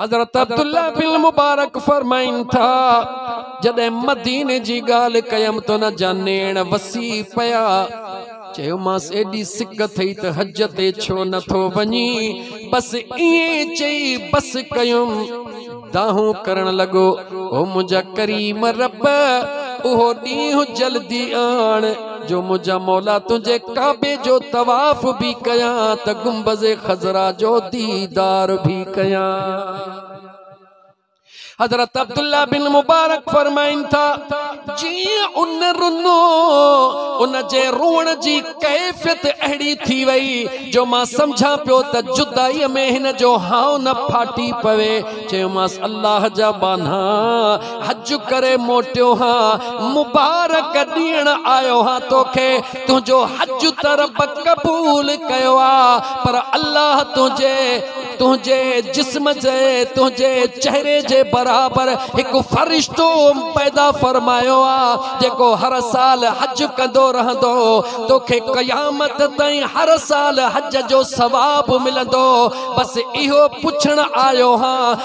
حضرت عبدالله بن مبارڪ فرمائن ٿا، جڏهن مديني جي ڳالهه ڪيم ته ان جا نيڻ وسي پيا، چيومانس ايڏي سڪ اٿئي ته حج تي ڇو نه ٿو وڃين، بس ائين چئي بس ڪيم، دانهون ڪرڻ لڳو، او منهنجا ڪريم رب! اهو ڏينهن جلدي آڻ. جو منهنجا مولا تنهنجي ڪعبي جو طواف به ڪيان ته گنبذ خضرا جو ديدار به ڪيان حضرت عبداللہ بن مبارک فرمائن تھا جي ان رنو ان جي روڻ جي کيفيت اھڙي ٿي وئي جو ما سمجھا پيو ته جدائي ۾ ھن جو ھائو نه ڦاٽي پوي چيو ماس الله جا بانھا حج ڪري موٽيو ها مبارڪ ڏيڻ آيو ها توکي تنهنجو حج ته رب قبول ڪيو آ پر الله تنهنجي تنهنجي جسم جي تنهنجي چهري جي برابر هڪ فرشتو پيدا فرمايو آ جيڪو هر سال حج ڪندو رهندو توکي قيامت تائين هر سال حج جو ثواب ملندو بس اهو پڇڻ آيو ها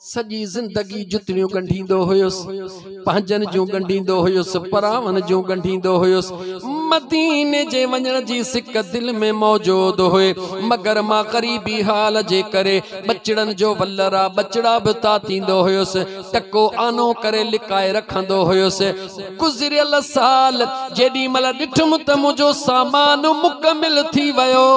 سڄي زندگي جتڙيون ڳنڍيندو هيس، پنهنجن جون ڳنڍيندو هيس، پراون جون ڳنڍيندو هيس. مديني جي وڃڻ جي سڪ دل ۾ موجود هئي، مگر مان غريبي حال جي ڪري ٻچڙن جو ولرا، ٻچڙا، به تاتيندو هيس، ٽڪو آنو ڪري لڪائي رکندو هيس. گذريل سال جيڏي مھل ڏٺم ته منھنجو سامان مڪمل ٿي ويو.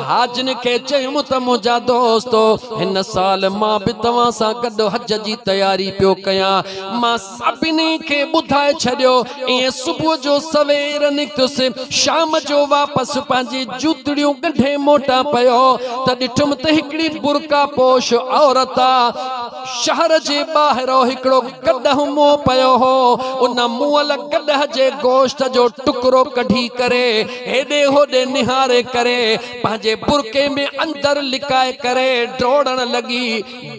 حاجن کي چيم ته منھنجا دوستو ھن سال مان به توھان سان گڏ حج جي تياري پيو ڪيان. مان سڀني کي ٻڌائي ڇڏيو. ائين صبح جو سوير نڪتس. شام جو واپس پنھنجي جوتڙيون ڳنڍي موٽان پيو ته ڏٺم ته ھڪڙي برقعه پوش عورت. شهر جي ٻاهرئون هڪڙو گڏهه منهن پيو هو، ان مئل گڏهه جي گوشت جو ٽڪرو ڪڍي ڪري هيڏي هوڏي نهاري ڪري پنهنجي برقعي ۾ اندر لڪائي ڪري ڊوڙڻ لڳي.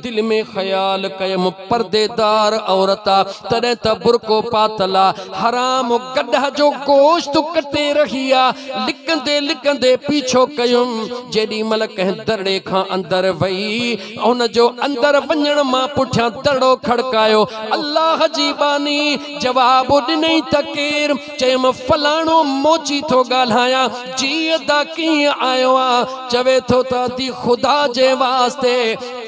دل ۾ خيال ڪيم پرديدار عورت آ تڏهن ته برقعو پاتل آ، حرام گڏهه جو گوشت ڪٽي رهي آ، لڪندي لڪندي پيڇو ڪيم، جيڏي مهل ڪنهن درڙي کان اندر وئي، ان جو اندر وڃڻ مان پٺيان دڙو کڙڪايو. الله جي ٻانهي جواب ڏنئي ته ڪير؟ چيم فلاڻو موچي ٿو ڳالهايان. جي ادا ڪيئن آيو آن؟ چوي ٿو ته ادي خدا جي واسطي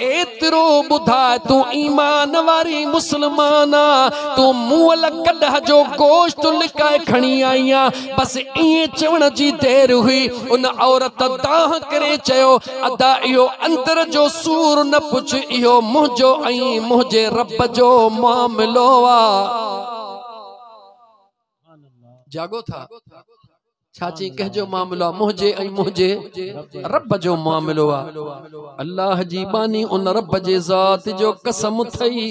ايترو ٻڌاء تون ايمان واري مسلمان آن تون مئل گڏهه جو گوشت لڪائي کڻي آئي آن. بس ائين چوڻ جي دير هئي ان عورت دانهن ڪري چيو، ادا اهو اندر جو سور نه پڇ، اهو منهنجو ۽ منهنجي رب جو معاملو آ. جاڳو ٿا. ڇا چئين ڪنهن جو معاملو آ؟ منهنجي ۽ منهنجي رب جو معاملو آ. الله جي ٻانهي ان رب جي ذات جو قسم اٿئي.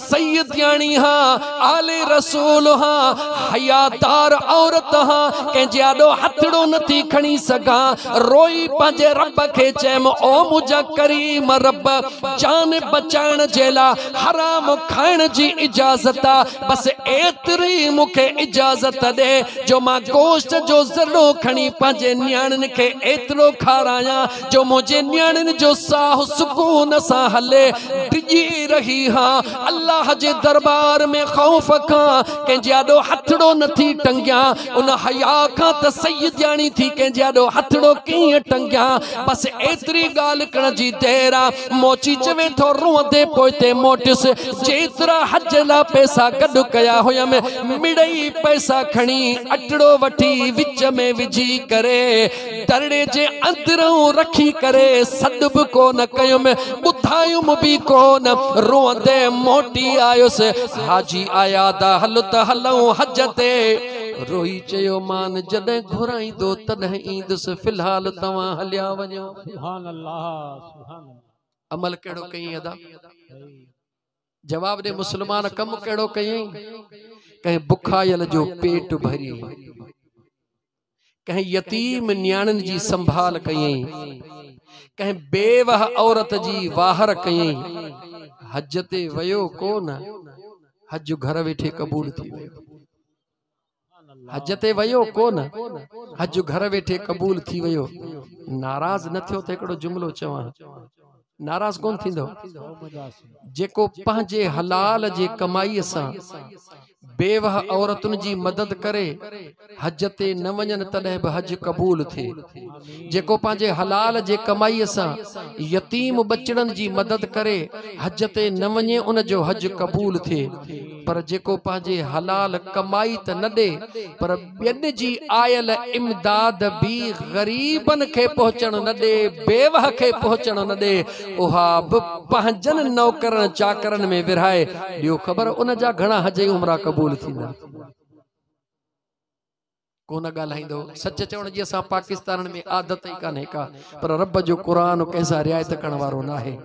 سيدياڻي ها، آل رسول ها، حيادار عورت ها، ڪنهن جي آڏو هٿڙو نه ٿي کڻي سگهان، روئي پنهنجي رب کي چيم، او منهنجا ڪريم رب! جان بچائڻ جي لاء حرام کائڻ جي اجازت آ، بس ايتري مون کي اجازت ڏي جو مان گوشت جو ذرڙو کڻي پنهنجي نياڻين کي ايترو کارايان جو منهنجي نياڻين جو ساهه سڪون سان هلي ڊڄي رهي ها الله جي دربار ۾ خوف کان ڪنهن جي آڏو هٿڙو نه ٿي ٽنگيان ان حيا کان ته سيدياڻي ٿي ڪنهن جي آڏو هٿڙو ڪيئن ٽنگيان بس ايتري ڳالهه ڪرڻ جي دير آ موچي چوي ٿو روئندي پوئتي موٽيس جيترا حج لا پئسا گڏ ڪيا هيم مڙئي پئسا کڻي اٽڙو وٺي وچ ۾ وجهي ڪري ترڙي جي اندرئون رکي ڪري سڏ به ڪونه ڪيم، ٻڌايم به ڪونه، روئندي موٽي آيس. حاجي آيا ته هل ته هلئون حج تي. روئي چيو مان جڏهن گهرائيندو تڏهن ايندس، في الحال توهان هليا وڃو. عمل ڪهڙو ڪيئين ادا؟ جواب ڏي مسلمان ڪم ڪهڙو ڪيئين ڪنهن بکايل جو پيٽ ڀري ڪنهن يتيم نياڻين جي سنڀال ڪيئين ڪنهن بيوه عورت جي واهر ڪيئين حج تي ويو ڪو نه حج گهر ويٺي قبول ٿي ويو حج تي ويو ڪو نه حج گهر ويٺي قبول ٿي ويو ناراض نه ٿيو ته هڪڙو جملو چوان ناراض ڪون ٿيندو جيڪو پنهنجي حلال جي ڪمائي سان بيوه عورتن جي مدد ڪري حج تي نه وڃن تڏهن به حج قبول ٿي جيڪو پنهنجي حلال جي ڪمائيء سان يتيم ٻچڙن جي مدد ڪري حج تي نه وڃي ان جو حج قبول ٿئي پر جيڪو پنهنجي حلال ڪمائي ته نه ڏي پر ٻين جي آيل امداد به غريبن کي پهچڻ نه ڏي بيوهه کي پهچڻ نه ڏي اها به پنهنجن نوڪرن چاڪرن ۾ ورهائي ڏيو خبر ان جا گهڻا حج ۽ عمرا قبول ٿيندا. ڪو نه ڳالهائيندو سچ چوڻ جي اسان پاڪستانن ۾ عادت ئي ڪانهي ڪا پر رب جو قرآن ڪنهن سان رعايت ڪرڻ وارو ناهي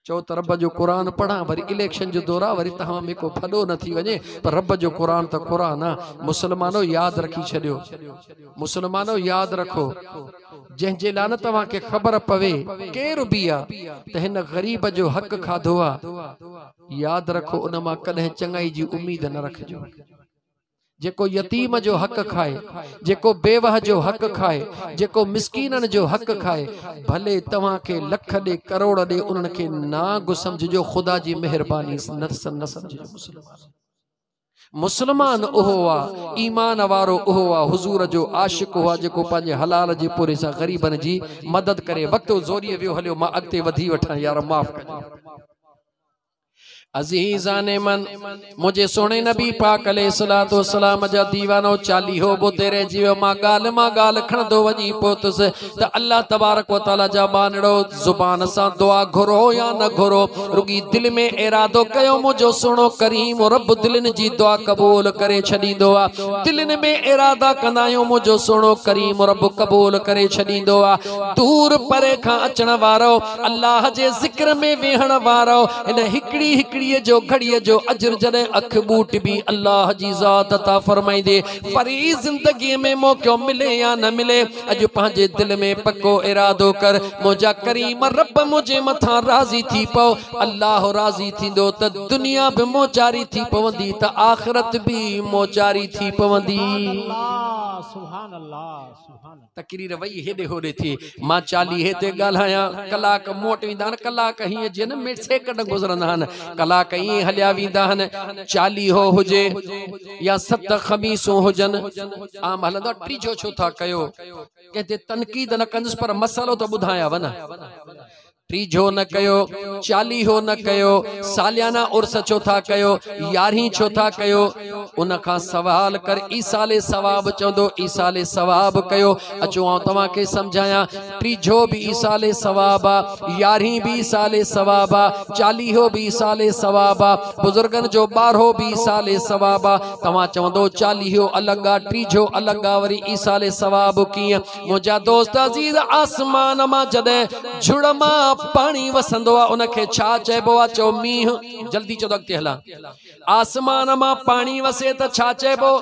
چو ته رب جو قرآن پڙهان وري اليڪشن جو دورا وري تهوان ۾ ڪو ڦڏو نه ٿي وڃي پر رب جو قرآن ته قرآن آ مسلمانو ياد رکي ڇڏيو مسلمانو ياد رکو جنهن جي لان توهان کي خبر پوي ڪير به آ ته هن غريب جو حق کاڌو آ ياد رکو ان مان ڪڏهن چڱائي جي اميد نه رکجو جيڪو يتيم جو حق کائي، جيڪو بيوه جو حق کائي، جيڪو مسڪينن جو حق کائي، ڀلي توهان کي لک ڏي ڪروڙ ڏي انهن کي نانگ سمجهجو خدا جي مهرباني سان نه سمجهجو مسلمان مسلمان اهو آ ايمان وارو اهو آ حضور جو عاشق اهو آ جيڪو پنهنجي حلال جي پوري سان غريبن جي مدد ڪري وقت زوري ويو هليو مان اڳتي وڌي وٺان يار معاف ڪجي عزيزان من! منهنجي سهڻي نبي پاڪ عليه الصلاة والسلام جا ديوانو چاليهو به اتي رهجي ويو. مان ڳالهه مان ڳالهه کڻندو وڃي پهتس ته الله تبارڪ و تعاليٰ جا ٻانهڙو! زبان سان دعا گهرو يا نه گهرو، رڳي دل ۾ ارادو ڪيو، منهنجو سهڻو ڪريم رب دلين جي دعا قبول ڪري ڇڏيندو آهي. دلين ۾ ارادا ڪندا آهيون، منهنجو سهڻو ڪريم رب قبول ڪري ڇڏيندو آهي. دور پري کان اچڻ وارو! الله جي ذڪر ۾ ويهڻ وارو ان هڪڙي هڪڙي جو گهڙي جو اجر جڏهن اک ٻوٽبي الله جي ذات عطا فرمائيندي وري زندگي ۾ موقعو ملي يا نه ملي اڄ پنهنجي دل ۾ پڪو ارادو ڪر منهنجا ڪريم رب منهنجي مٿان راضي ٿي پئو الله راضي ٿيندو ته دنيا به موچاري ٿي پوندي ته آخرت به موچاري ٿي پوندي سبحان الله سبحان الله تقرير وئي هيڏي هوڏي ٿي. مان چاليهي تي ڳالهايان. ڪلاڪ موٽ ويندا آهن. ڪلاڪ هيئن جيئن ميڊ سيڪنڊ گذرندا آهن. ڪلاڪ ائين هليا ويندا آهن. چاليهو هجي يا ست خميسون هجن. عام هلندو آهي ٽيجهو ڇو ٿا ڪيو. ڪنهن تي تنقيد نه ڪندس پر مسئلو ته ٻڌايانو نه. ٽيجهو نه ڪيو، چاليهو نه ڪيو، ساليانه عرس ڇو ٿا ڪيو، يارهين ڇو ٿا ڪيو؟ ان کان سوال ڪر، ايصال ثواب چوندو، ايصال ثواب ڪيو. اچو آئون توهان کي سمجهايان، ٽيجهو به ايصال ثواب آ، يارهين به ايصال ثواب آ، چاليهو به ايصال ثواب آ، بزرگن جو ٻارهو به ايصال ثواب آ. توهان چوندو چاليهو الڳ آ، ٽيجهو الڳ آ، وري ايصال ثواب ڪيئن؟ منهنجا دوست عزيز آسمان مان جڏهن جھڙ مان پاڻي وسندو آ ان کي ڇا چئبو آ چئو مينهن جلدي چئو ته اڳتي هلان آسمان مان پاڻي وسي ته ڇا چئبو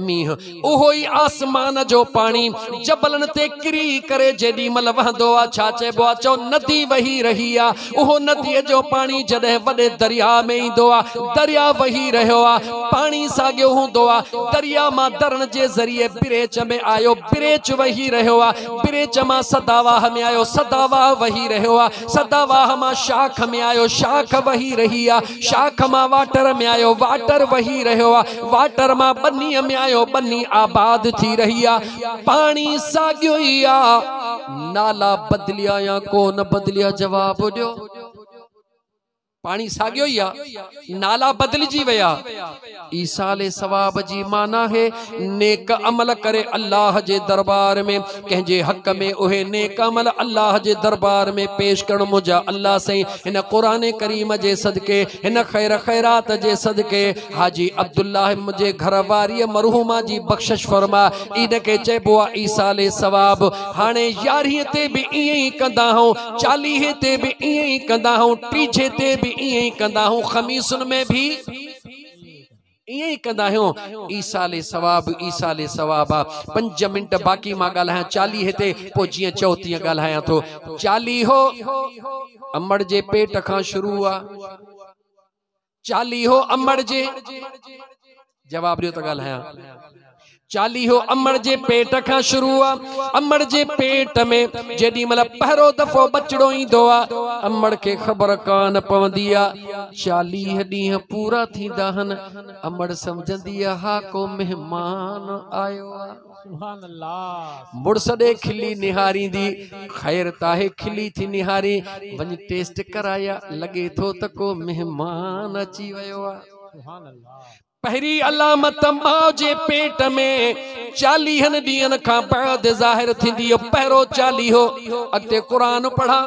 مينهن اهو ئي آسمان جو پاڻي جبلن تي ڪري ڪري جيڏي مھل وهندو آ ڇا چئبو آ چئو ندي وهي رهي آ اهو نديء جو پاڻي جڏهن وڏي درياء ۾ ايندو آ، درياء وهي رهيو آ، پاڻي ساڳيو هوندو آ، درياء مان درڻ جي ذريعي بريچ ۾ آيو، بريچ وهي رهيو آ، بريچ مان سداواهه ۾ آيو، سداواهه وهي رهيو آ، سداواهه مان شاخ ۾ آيو، شاخ وهي رهي آ، شاخ مان واٽر ۾ آيو، واٽر وهي رهيو آ، واٽر مان ٻنيء ۾ آيو، ٻني آباد ٿي رهي آ، پاڻي ساڳيو ئي آ. نالا بدليا يا ڪو نه بدليا جواب ڏيو پاڻي ساڳيو ئي آ نالا بدلجي ويا عيسال ثواب جي معنی ہے نیڪ عمل ڪري الله جي دربار ۾ ڪنهن جي حق ۾ اهي نيڪ عمل الله جي دربار ۾ پيش ڪرڻ منهنجا الله سائين هن قران ڪريم جي صدقي هن خير خيرات جي صدقي حاجي عبدالله منهنجي گهر واري مرحوما جي بخشش فرما ان کي چئبو آ ايصال ثواب هاڻي يارهين تي به ائين ئي ڪندا آهيون چاليهين تي به ائين ئي ڪندا آهيون ٽيجهي تي به ائين ئي ڪندا آهيون خميسن ۾ به ائين ئي ڪندا آهيون ايصال ثواب ايصال ثواب آ پنج منٽ باقي مان ڳالهايان چاليهي تي پوء جيئن چئو تيئن ڳالهايان ٿو چاليهو امڙ جي پيٽ کان شروع آ چاليهو امڙ جي جواب ڏيو ته ڳالهايان چاليهو امڙ جي پيٽ کان شروع آ امڙ جي پيٽ ۾ جيڏي مل پهرو دفعو بچڙو ايندو آ امڙ کي خبر ڪان پوندي آ چاليهه ڏينهن پورا ٿيندا هن امڙ سمجهندي آ ها ڪو مهمان آيو آ مڙس ڏي کلي نهاريندي خير تاهي کلي ٿي نهارين وڃ ٽيسٽ ڪرايا لڳي ٿو ته ڪو مهمان اچي ويو آهي پهري علامت ماء جي پيٽ ۾ چاليهن ڏينهن کان بعد ظاهر ٿيندي پهرو چاليهو اڳتي قرآن پڙهان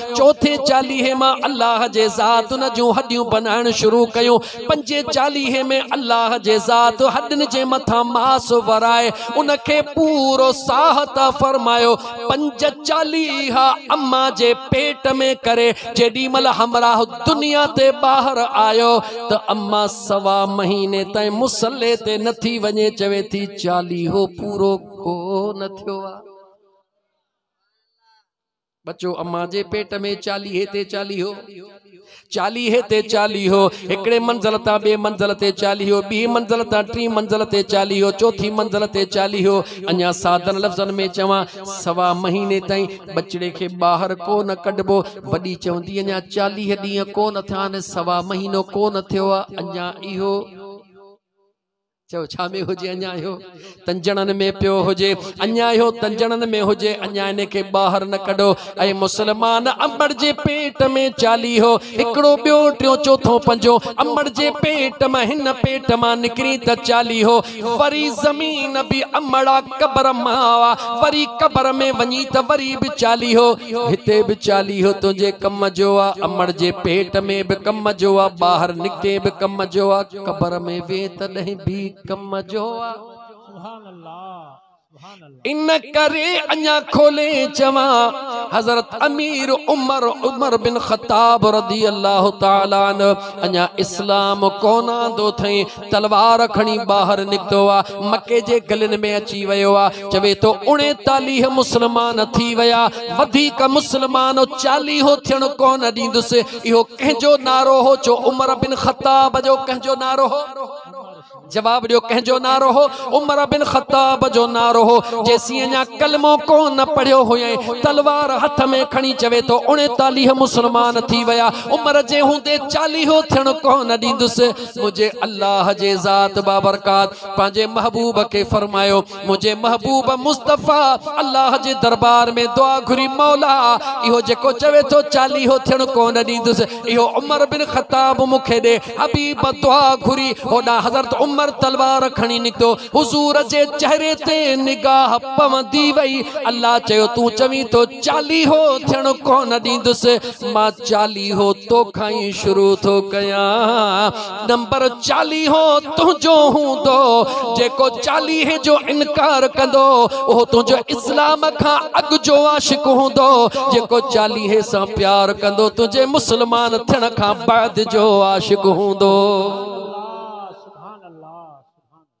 چوٿين چاليهي مان الله جي ذات ان جون هڏيون بنائڻ شروع ڪيون پنجين چاليهي ۾ الله جي ذات هڏين جي مٿان ماس ورائي ان کي پورو ساهه عطا فرمايو پنج چاليها اما جي پيٽ ۾ ڪري جيڏي مهل همراهه دنيا تي ٻاهر آيو ته اما سوا مهيني تائين مصلي تي نٿي وڃي چوي ٿي چاليهو پورو ڪو نه ٿيو آ ٻچو امان جي پيٽ ۾ چاليهي تي چاليهو چاليهي تي چاليهو هڪڙي منزل تان ٻي منزل تي چاليهو ٻي منزل تان ٽي منزل تي چاليهو چوٿي منزل تي چاليهو اڃا سادن لفظن ۾ چوان سوا مهيني تائين ٻچڙي کي ٻاهر ڪو نه ڪڍبو وڏي چوندي اڃا چاليهه ڏينهن ڪو نه ٿيا آهن سوا مهينو ڪو نه ٿيو آهي اڃا اهو چئو ڇا ۾ هجي اڃا اهو تنجڻن ۾ پيو هجي اڃا اهو تنجڻن ۾ هجي اڃا ان کي ٻاهر نه ڪڍو اي مسلمان امڙ جي پيٽ ۾ چاليهو هڪڙو ٻيو ٽيو چوٿو پنجو امڙ جي پيٽ مان هن پيٽ مان نڪري ته چاليهو وري زمين به امڙا قبر ماوا وري قبر ۾ وڃي ته وري به چاليهو هتي به چاليهو تنهنجي ڪم جو آ امڙ جي پيٽ ۾ به ڪم جو آ ٻاهر نڪتي به ڪم جو آ قبر ۾ وي تڏهن به ڪم جو آ سبحان الله ان ڪري اڃا کولي چوان حضرت امير عمر عمر بن خطاب رضي الله تعالي عنه اڃا اسلام ڪون آندو ٿئي تلوار کڻي ٻاهر نڪتو آ مڪي جي گلن ۾ اچي ويو آ چوي تو 39 مسلمان ٿي ويا وڌيڪ مسلمان 40 ٿيڻ ڪون ڏيندس اهو ڪنهن جو نعرو هو جو عمر بن خطاب جو ڪنهن جو نعرو هو جواب ڏيو ڪنهن جو نعرو هو عمر بن خطاب جو نعرو هو جيسي اڃا ڪلمو ڪو نه پڙهيو هو ۽ تلوار هٿ ۾ کڻي چوي ٿو 39 مسلمان ٿي ويا عمر جي هوندي 40 هو ٿيڻ ڪو نه ڏيندس مجھي الله جي ذات بابرڪات پنهنجي محبوب کي فرمايو منهنجي محبوب مصطفيٰ الله جي دربار ۾ دعا گهري مولا اهو جيڪو چوي ٿو چاليهو ٿيڻ ڪونه ڏيندس اهو عمر بن خطاب مون کي ڏي حبيب دعا گهري هوڏا حضرت عمر تلوار کڻي نڪتو حضور جي چهري تي نگاهه پوندي وئي الله چيو تون چوين ٿو چاليهو ٿيڻ ڪونه ڏيندس مان چاليهو توکان ئي شروع ٿو ڪيان نمبر چاليهو تنهنجو هوندو جيڪو چاليهي جو انڪار ڪندو اهو تنهنجو اسلام کان اڳ جو عاشق هوندو جيڪو چاليهي سان پيار ڪندو تنهنجي مسلمان ٿيڻ کان بعد جو عاشق هوندو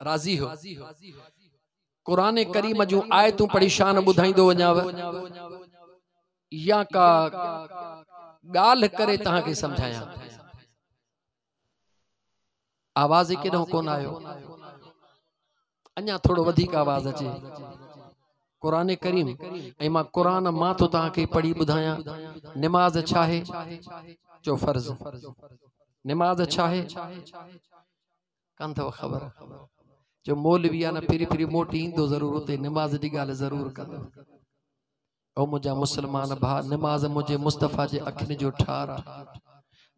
راضي هو. قرآن ڪريم جون آيتون پڙهي شان ٻڌائيندو وڃاو يا ڪا ڳالهه ڪري توهان کي سمجهايان آواز ئي ڪيڏانهن ڪون آيو اڃا ٿورو وڌيڪ آواز اچي قرآن ڪريم ۽ مان قرآن مان ٿو توهان کي پڙهي ٻڌايان نماز ڇا آهي چو فرض نماز ڇا آهي ڪنڌئو خبر جو مولوي آ نه ڦري ڦري موٽي ايندو ضرور اتي نماز جي ڳالهه ضرور ڪندو او منهنجا مسلمان ڀا نماز منهنجي مصطفيٰ جي اکين جو ٺار آ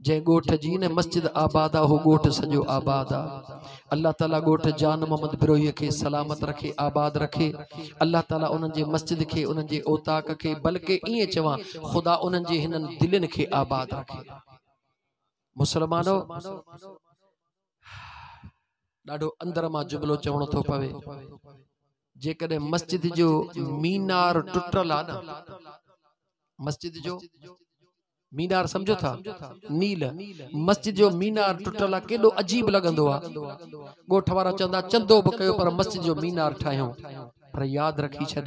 جنهن ڳوٺ جي نه مسجد آباد آ اهو ڳوٺ سڄو آباد آ الله تعالي ڳوٺ جان محمد بروهي کي سلامت رکي آباد رکي الله تعالي انهن جي مسجد کي انهن جي اوطاق کي بلڪه ائين چوان خدا انهن جي هنن دلين کي آباد رکي مسلمانو! ڏاڍو اندر مان جملو چوڻو ٿو پوي جيڪڏهن مسجد جو مينار ٽٽل آ نه مسجد جو مينار سمجھو ٿا نيل مسجد جو مينار ٽٽل آ ڪيڏو عجيب لڳندو آ ڳوٺ وارا چوندا چندو به ڪيو پر مسجد جو مينار ٺاهيون پر ياد رکي ڇڏ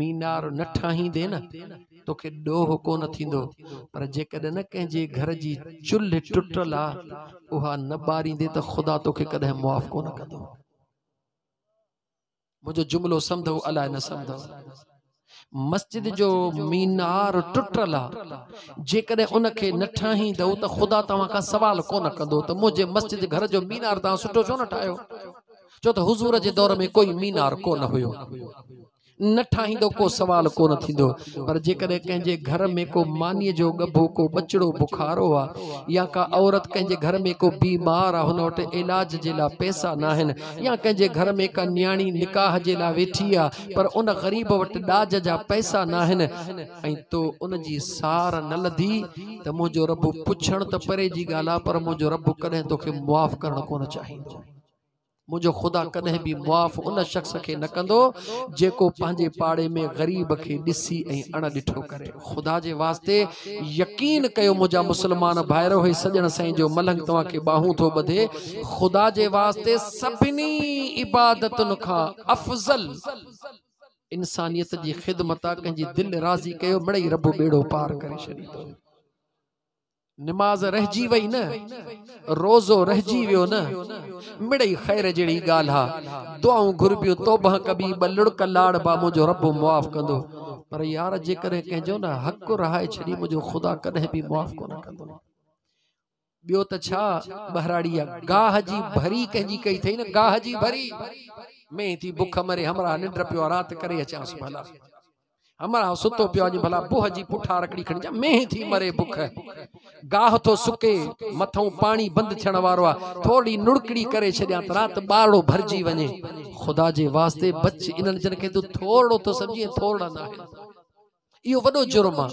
مينار نه ٺاهيندين نه توکي ڏوهه ڪونه ٿيندو پر جيڪڏهن نه ڪنهن جي گهر جي چلهه ٽٽل آ اها نه ٻاريندين ته خدا توکي ڪڏهن معاف ڪونه ڪندو منهنجو جملو سمڌو الائي نه سمڌو مسجد جو مينار ٽٽل آ جيڪڏهن ان کي نه ٺاهيندو ته خدا توهان کان سوال ڪونه ڪندو ته منهنجي مسجد گهر جو مينار توهان سٺو ڇو نه ٺاهيو ڇو ته حضور جي دور ۾ ڪوئي مينار ڪونه هيو نه ٺاهيندو ڪو سوال ڪونه ٿيندو پر جيڪڏهن ڪنهن جي گهر ۾ ڪو ماني جو ڳڀو ڪو ٻچڙو بخارو آ يا ڪا عورت ڪنهن جي گهر ۾ ڪو بيمار آ هن وٽ علاج جي لا پئسا ناهن يا ڪنهن جي گهر ۾ ڪا نياڻي نڪاح جي لا ويٺي آ پر ان غريب وٽ ڏاج جا پئسا ناهن ۽ تو ان جي سار نه لڌي ته منهنجو رب پڇڻ ته پري جي ڳالهه آ پر منهنجو رب ڪڏهن توکي معاف ڪرڻ ڪونه چاهيندو منهنجو خدا ڪڏهن به معاف ان شخص کي نه ڪندو جيڪو پنهنجي پاڙي ۾ غريب کي ڏسي ۽ اڻ ڏٺو ڪري خدا جي واسطي يقين ڪيو منهنجا مسلمان ڀائرو هي سڄڻ سائين جو ملنگ توهان کي ٻاهون ٿو ٻڌي خدا جي واسطي سڀني عبادتن کان افضل انسانيت جي خدمت آ ڪنهن جي دل راضي ڪيو مڙئي رب ٻيڙو پار ڪري ڇڏيندو نماز رهجي وئي نه، روزو رهجي ويو نه، مڙئي خير جهڙي ڳالهه آ، دعائون گهربيون توبه ڪبي ٻه لڙڪ لاڙ با منهنجو رب معاف ڪندو، پر يار جيڪڏهن ڪنهن جو نه حق رهائي ڇڏي منهنجو خدا ڪڏهن به معاف ڪونه ڪندو. ٻيو ته ڇا ٻهراڙي آ گاهه جي ڀري ڪنهن جي ڪئي ٿئي نه گاهه جي ڀري مينهن ٿي بک مري همراهه ننڊ پيو آ رات ڪري اچانس ڀلا. امڙ ها ستو پيو آجي ڀلا بوه جي پٺا رکڙي کڻي جا مينهن ٿي مري بک گاهه ٿو سڪي مٿو پاڻي بند ٿيڻ وارو آ ٿورڙي نڙڪڙي ڪري ڇڏيان ته رات ٻارڙو ڀرجي وڃي خدا جي واسطي بچ انن جن کي تو ٿورڙو ٿو سمجهي ٿورڙا نه آهن اهو وڏو جرم آ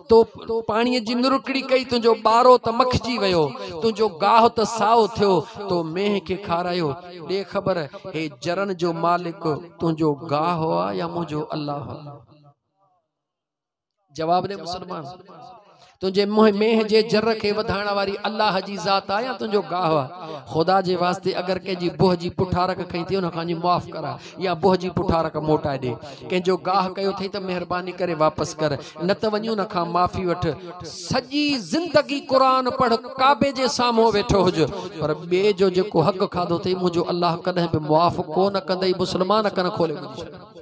تو پاڻي جي نرڪڙي ڪئي تنهنجو ٻارو ته مکجي ويو تنهنجو گاهه ته سائو ٿيو تو مينهن کي کارايو ڏي خبر هي جرن جو مالڪ تنهنجو گاهه آ يا منهنجو الله آ؟ جواب ڏي مسلمان تنهنجي منهن مينهن جي جر کي وڌائڻ واري الله جي ذات آ يا تنهنجو گاهه آ خدا جي واسطي اگر ڪنهن جي بوه جي پٺارڪ کئي ٿي ان کان جي معاف ڪرا يا بوه جي پٺارڪ موٽائي ڏي ڪنهن جو گاهه ڪيو ٿئي ته مهرباني ڪري واپس ڪر نه ته وڃون کان معافي وٺ سڄي زندگي قرآن پڙھ ڪعبي جي سامھون ويٺو ھج پر ٻئي جو جيڪو حق کاڌو اٿئي منھنجو الله ڪڏھن به معاف ڪونه ڪندئي مسلمان ڪن کولي ٻڌي ڇڏ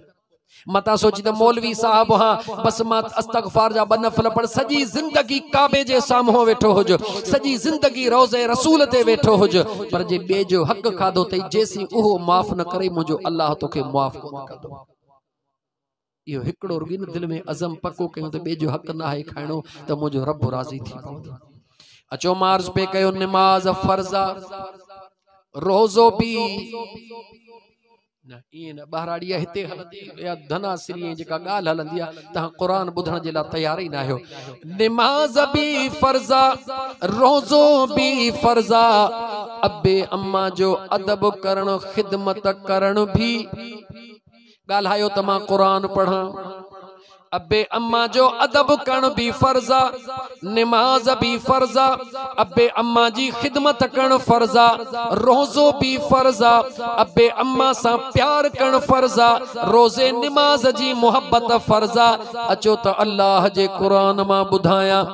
متا سوچي ته مولوي صاحب ها بس ما استغفار جا بنفل پڙ سجي زندگي کعبه جي سامهو ويٺو هج سجي زندگي روزه رسول تي ويٺو هج پر جي بي جو حق کادو تي جيسي اهو معاف نه ڪري مجو الله توکي معاف ڪو ڪندو اهو هڪڙو رڳي نه دل ۾ عزم پڪو ڪيون ته ٻئي جو حق ناهي کائڻو ته منهنجو رب راضي ٿي پوندو اچو مارز پي ڪيو نماز فرض روزو بي نه اين بهراڙي هتي هلندي يا ڌنا سري جيڪا ڳالھ هلندي آ ته قرآن ٻڌڻ جي لا تيار ئي نه آهيو نماز بي فرض روزو بي فرض ابي اما جو ادب ڪرڻ خدمت ڪرڻ بي ڳالهايو ته مان قرآن پڙهان. ابي امان جو ادب ڪرڻ به فرض آ، نماز به فرض آ، ابي امان جي خدمت ڪرڻ فرض آ، روزو به فرض آ، ابي امان سان پيار ڪرڻ فرض آ، روزي نماز جي محبت فرض آ، اچو ته الله جي قرآن مان ٻڌايان.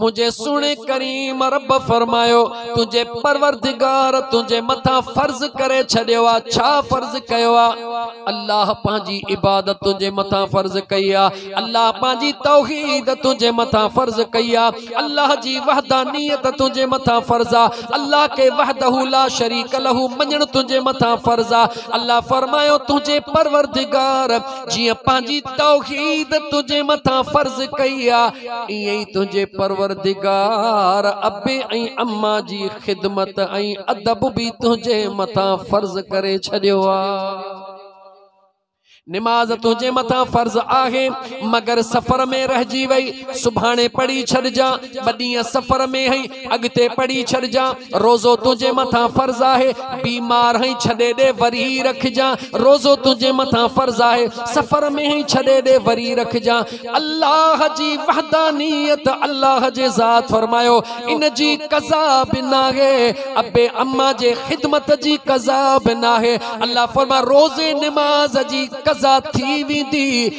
منهنجي سهڻي ڪريم رب فرمايو تنهنجي پروردگار تنهنجي مٿان فرض ڪري ڇڏيو آهي ڇا فرض ڪيو آهي الله پنهنجي عبادت تنهنجي مٿان فرض ڪئي آهي الله پنهنجي توحيد تنهنجي مٿان فرض ڪئي آهي الله جي وحدانيت تنهنجي مٿان فرض آهي الله کي وحده لا شريڪ له مڃڻ تنهنجي مٿان فرض آهي الله فرمايو تنهنجي پروردگار جيئن پنهنجي توحيد تنهنجي مٿان فرض ڪئي آهي ايئن ئي تنهنجي پروردگار ابي ۽ اما جي خدمت ۽ ادب به تنهنجي مٿان فرض ڪري ڇڏيو آهي. نماز تنهنجي مٿان فرض آهي مگر سفر ۾ رهجي وئي، سڀاڻي پڙهي ڇڏجان، ٻه ڏينهن سفر ۾ هئين، اڳتي پڙهي ڇڏجان. روزو تنهنجي مٿان فرض آهي بيمار هئين ڇڏي ڏي وري رکجان روزو تنهنجي مٿان فرض آهي سفر ۾ هئين ڇڏي ڏي وري رکجان الله جي وحدانيت الله جي ذات فرمايو ان جي قضا به ناهي ابي اما جي خدمت جي قضا به ناهي الله فرما روزي نماز جي قضا ٿي ويندي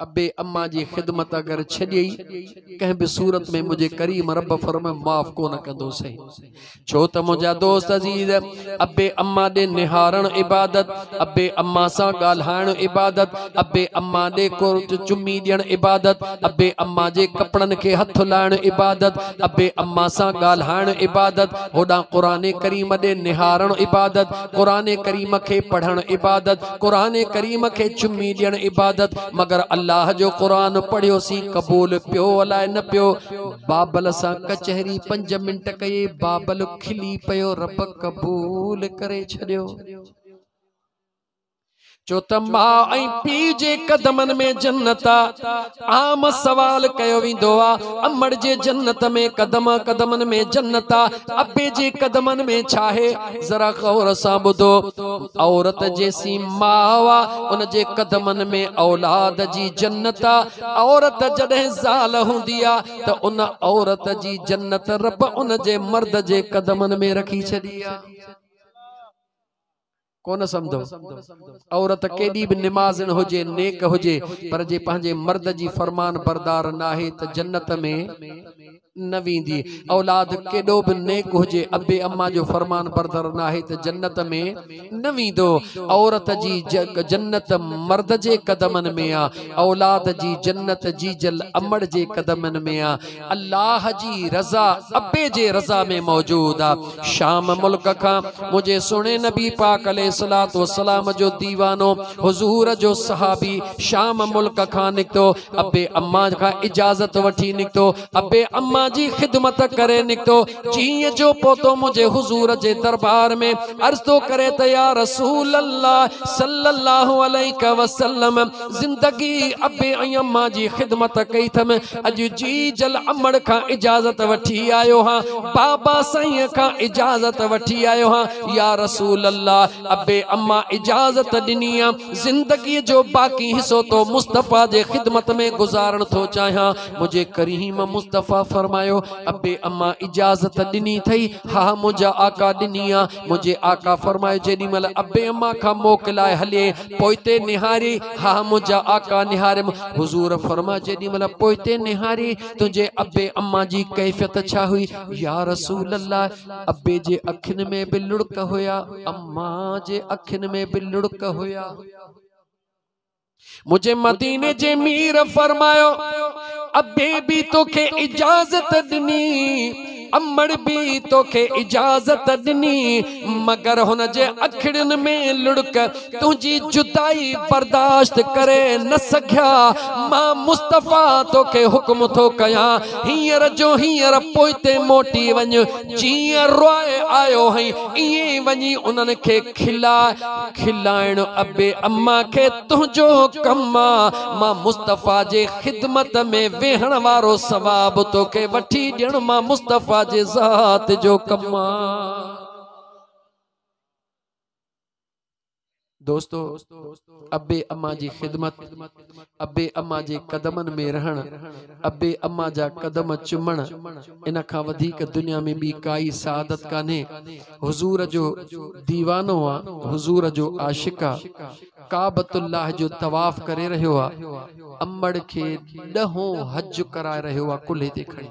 ابي اما جي خدمت اگر ڇڏيئي ڪنهن به صورت ۾ منهنجي ڪريم رب فرم معاف ڪونه ڪندو سهي ڇو ته منهنجا دوست عزيز ابي اما ڏي نهارڻ عبادت ابي اما سان ڳالهائڻ عبادت ابي اما ڏي ڪورت چمي ڏيڻ عبادت ابي اما جي ڪپڙن کي هٿ لائڻ عبادت ابي اما سان ڳالهائڻ عبادت هوڏان قرآن ڪريم ڏي نهارڻ عبادت قرآن ڪريم کي پڙهڻ عبادت قرآن ڪريم کي چمي ڏيڻ عبادت مگر الله جو قرآن پڙهيو سي قبول پيو الاء نه پيو بابل سان ڪچهري پنج منٽ ڪئي بابل کلي پيو رب قبول ڪري ڇڏيو چو ته ماء ۽ پيء جي قدمن ۾ جنت آ. عام سوال ڪيو ويندو آ، امڙ جي جنت ۾ قدم آ، قدمن ۾ جنت آ، ابي جي قدمن ۾ ڇاهي؟ ذرا غور سان ٻڌو، عورت جيسين ماء آ، ان جي قدمن ۾ اولاد جي جنت آ. عورت جڏهن زال هوندي آ ته ان عورت جي جنت رب ان جي مرد جي قدمن ۾ رکي ڇڏي آ. ڪونه سمھندو. عورت ڪيڏي به نمازڻ هجي، نيڪ هجي، پر جي پنھنجي مرد جي فرمان بردار ناهي ته جنت ۾ نه ويندي. اولاد ڪيڏو به نيڪ هجي، ابي اما جو فرمان بردار ناهي ته جنت ۾ نه ويندو. عورت جي جنت مرد جي قدمن ۾ آ. اولاد جي جنت جيجل امڙ جي قدمن ۾ آ. الله جي رضا ابي جي رضا ۾ موجود آ شام ملڪ کان منهنجي سهڻي نبي پاڪ عليه الصلوة والسلام جو ديوانو حضور جو صحابي شام ملڪ کان نڪتو ابي امان کان اجازت وٺي نڪتو ابي امان جي خدمت ڪري نڪتو چينء جو پوتو منهنجي حضور جي دربار ۾ عرض ٿو ڪري ته يا رسول الله صلّي الله عليه وسلّم زندگي ابي ۽ امان جي خدمت ڪئي اٿم اڄ جي جل امڙ کان اجازت وٺي آيو آهيان بابا سائينء کان اجازت وٺي آيو آهيان يا رسول الله ابي امان اجازت ڏني آهي زندگي جو باقي حصو تو مصطفيٰ جي خدمت ۾ گذارڻ ٿو چاهيان منهنجي ڪريم مصطفيٰ فرمايو ابي اما اجازت ڏني ٿئي؟ ها منهنجا آقا ڏني آ. منهنجي آقا فرمايو جيڏي مهل ابي اما کان موڪ لاء هلي پوئتي نهاري ها منهنجا آقا نهاريم حضور فرمايو جيڏي مهل پوئتي نهاري تنهنجي ابي اما جي ڪيفيت ڇا هئي يارسول الله ابي جي اکين ۾ به لڙڪ هيا اما جي اکين ۾ به لڙڪ هيا. منهنجي مديني جي مير فرمايو ابي به توکي اجازت ڏني امڙ به توکي اجازت ڏني مگر هن جي اکڙين ۾ لڙڪ تنهنجي جدائي برداشت ڪري نه سگهيا مان مصطفيٰ توکي حڪم ٿو ڪيان هينئر جو هينئر پوئتي موٽي وڃ جيئن روئي آيو هئين ائين وڃي انهن کي کلا کلائڻ ابي اما کي تنهنجو ڪم آ مان مصطفيٰ جي خدمت ۾ ويهڻ وارو ثواب توکي وٺي ڏيڻ مان مصطفيٰ جي ذات جو ڪم آ دوستو ابي اما جي خدمت، ابي اما جي قدمن ۾ رهڻ، ابي اما جا قدم چمڻ، ان کان وڌيڪ دنيا ۾ ٻي ڪائي سعادت ڪانهي. حضور جو ديوانو آ، حضور جو عاشق آ، ڪعبت الله جو طواف ڪري رهيو آ، امڙ کي ڏهون حج ڪرائي رهيو آ ڪلهي تي کڻي.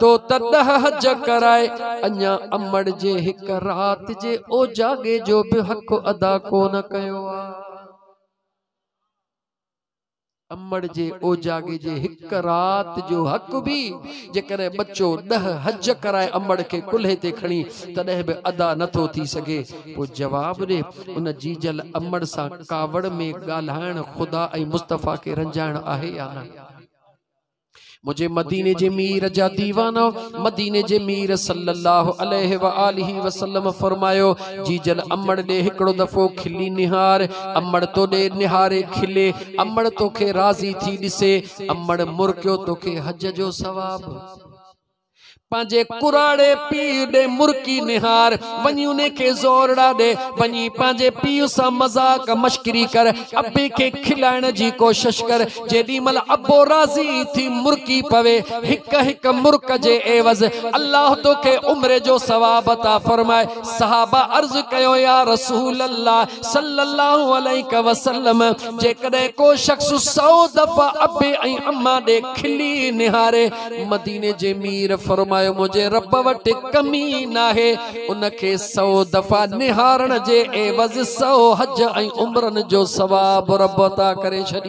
تو ته ڏهه حج ڪرائي اڃا امڙ جي هڪ رات جي اوجاڳي جو به حق ادا ڪونه ڪيو آ امڙ جي اوجاڳي جي هڪ رات جو حق به جيڪڏهن ٻچو ڏهه حج ڪرائي امڙ کي ڪلهي تي کڻي تڏهن به ادا نٿو ٿي سگهي پوء جواب ڏي ان جيجل امڙ سان ڪاوڙ ۾ ڳالهائڻ خدا ۽ مصطفيٰ کي رنجائڻ آهي يا نه منهنجي مديني جي مير جا ديوانا مديني جي مير صلي الله عليه واله وسلم فرمايو جيجل امڙ ڏي هڪڙو دفعو کلي نهار امڙ تو ڏي نهاري کلي امڙ توکي راضي ٿي ڏسي امڙ مرڪيو توکي حج جو ثواب پنهنجي ڪراڙي پيء ڏي مرڪي نهار، وڃي انهي کي زورڙا ڏي، وڃي پنهنجي پيء سان مذاق مشڪري ڪر، ابي کي کلائڻ جي ڪوشش ڪر، جيڏي مهل ابو راضي ٿي مرڪي پوي، هڪ هڪ مرڪ جي عيوض الله توکي عمر جو ثواب عطا فرمائي، صحابه عرض ڪيو يا رسول الله صلّي الله عليه وسلّم جيڪڏهن ڪو شخص سئو دفعا ابي ۽ اما ڏي کلي نهاري، مديني جي مير فرمايو منهنجي رب وٽ ڪمي ناهي ان کي سئو دفعا نهارڻ جي عيوض سئو حج ۽ عمرن جو ثواب رب عطا ڪري ڇڏي.